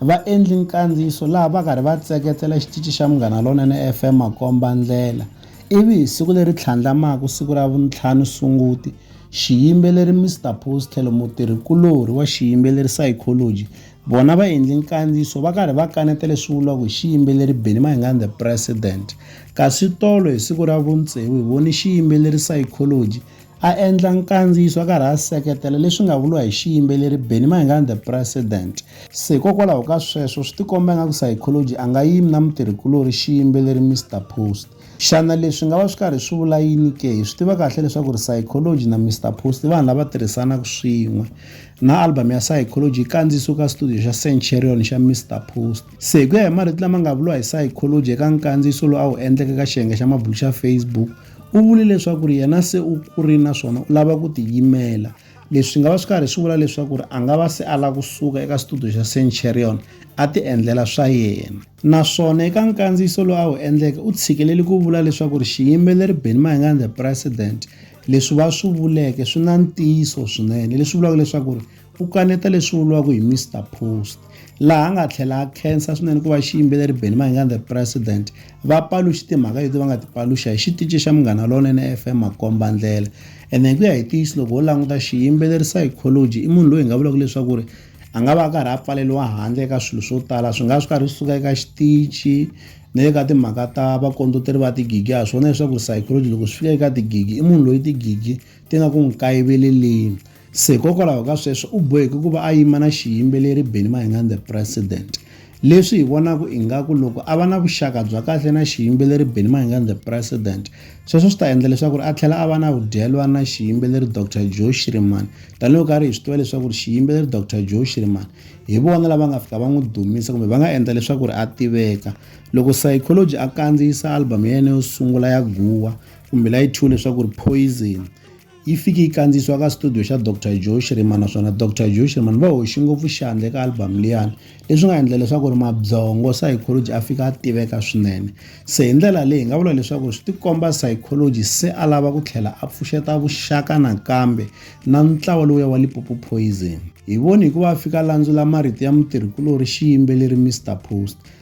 Va endli nkandziyiso laha va karhi va tseketsela xitici xa Munghana Lonene FM makomba ndlela, ivi hi siku leri tlhandlamaka siku ra vuntlhanu Sunguti, xiyimbeleri Mister Paul's tlhelo mutirhi kulorhi wa xiyimbeleri Psychology vona va endli nkandziyiso va karhi va kaneta leswi vuriwaka hi xiyimbeleri Benny Mahingani The President kasi tolo hi siku ra vuntsevu hi voni xiyimbeleri Psychology A endla nkandziyiso a karhi a seketela leswi nga vuriwa hi xiyimbeleri Benny Mayengani The President. Se hikokwalaho ka sweswo swi tikomba ingaku Psychology a nga yimi na mutirhikulorhi xiyimbeleri Mister Post. Xana leswi nga va swi karhi swi vula yini ke? Hi swi tiva kahle leswaku ri Psychology na Mister Post i vanhu lava tirhisanaku swin'we. Na album ya Psychology yi kandziyisiwe ka studio xa Centurion xa Mister Post. Se hi ku ya hi marito lama nga vuriwa hi Psychology eka nkandziyiso lowu a wu endleke eka xiyenge xa mabulu xa Facebook, U vule leswaku ri yena se u kurile naswona u lava ku tiyimela. Leswi swi nga va swi karhi swi vula leswaku ri a nga va se a lava ku suka eka xitudiyo xa Centurion a tiendlela swa yena. Naswona eka nkandziyiso lowu a wu endleke u tshikelele ku vula leswaku ri xiyimbeleri Benny Mayengani The President leswi va swi vuleke swi na ntiyiso swinene leswi vulaka leswaku ri u kaneta leswi vuriwaka hi mr post laha a nga tlhela a khensa swinene ku va xiyimbeleri benny mahingani the president va paluxi timhaka leti va nga ti paluxa hi xitici xa munghana lonene fm makomba ndlela ene hi ku ya hi tiyisi loko ho languta xiyimbeleri psychology i munhu loyi hi nga vulaka leswaku ri a nga va a karhi a pfaleliwa handle eka swilo swo tala swi nga swi karhi swi suka eka xitici ni le ka timhaka ta vakondoteri va tigigi ha swona leswaku ri psychology loko swi fika eka tigigi i munhu loyi tigigi ti nga ku n'wi kayiveleleni Se hikokwalaho ka sweswo u boheke ku va a yima na xiyimbeleri Benny Mahingani The President. Leswi hi vonaka ingaku loko a va na vuxaka bya kahle na xiyimbeleri Benny Mahingani The President, sweswo swi ta endla leswaku a tlhela a va na vudyelwani na xiyimbeleri Doctor Joe Shirimani. Tanihi loko karhi hi swi tiva leswaku xiyimbeleri Doctor Joe Shirimani hi vona lava nga fika va n'wi dumisa kumbe va nga endla leswaku a tiveka. Loko Saichology a kandziyisa album ya yena yo sungula ya Guwa kumbe la yi thyiwe leswaku Poison, yi fike yi kandziyisiwa ka studio xa Dr Joe Shirima naswona Dr Joe Shirima va hoxi ngopfu xandla eka album liyani leswi nga endla leswaku ri mabyongo psychology a fika a tiveka swinene se hi ndlela leyi hi nga vula leswaku swi tikomba psychology se a lava ku tlhela a pfuxeta vuxaka nakambe na ntlawa lowuya wa lipopo poison hi voni hikuva a fika landzula marito ya mutirhikulori xiyimbeleri mr post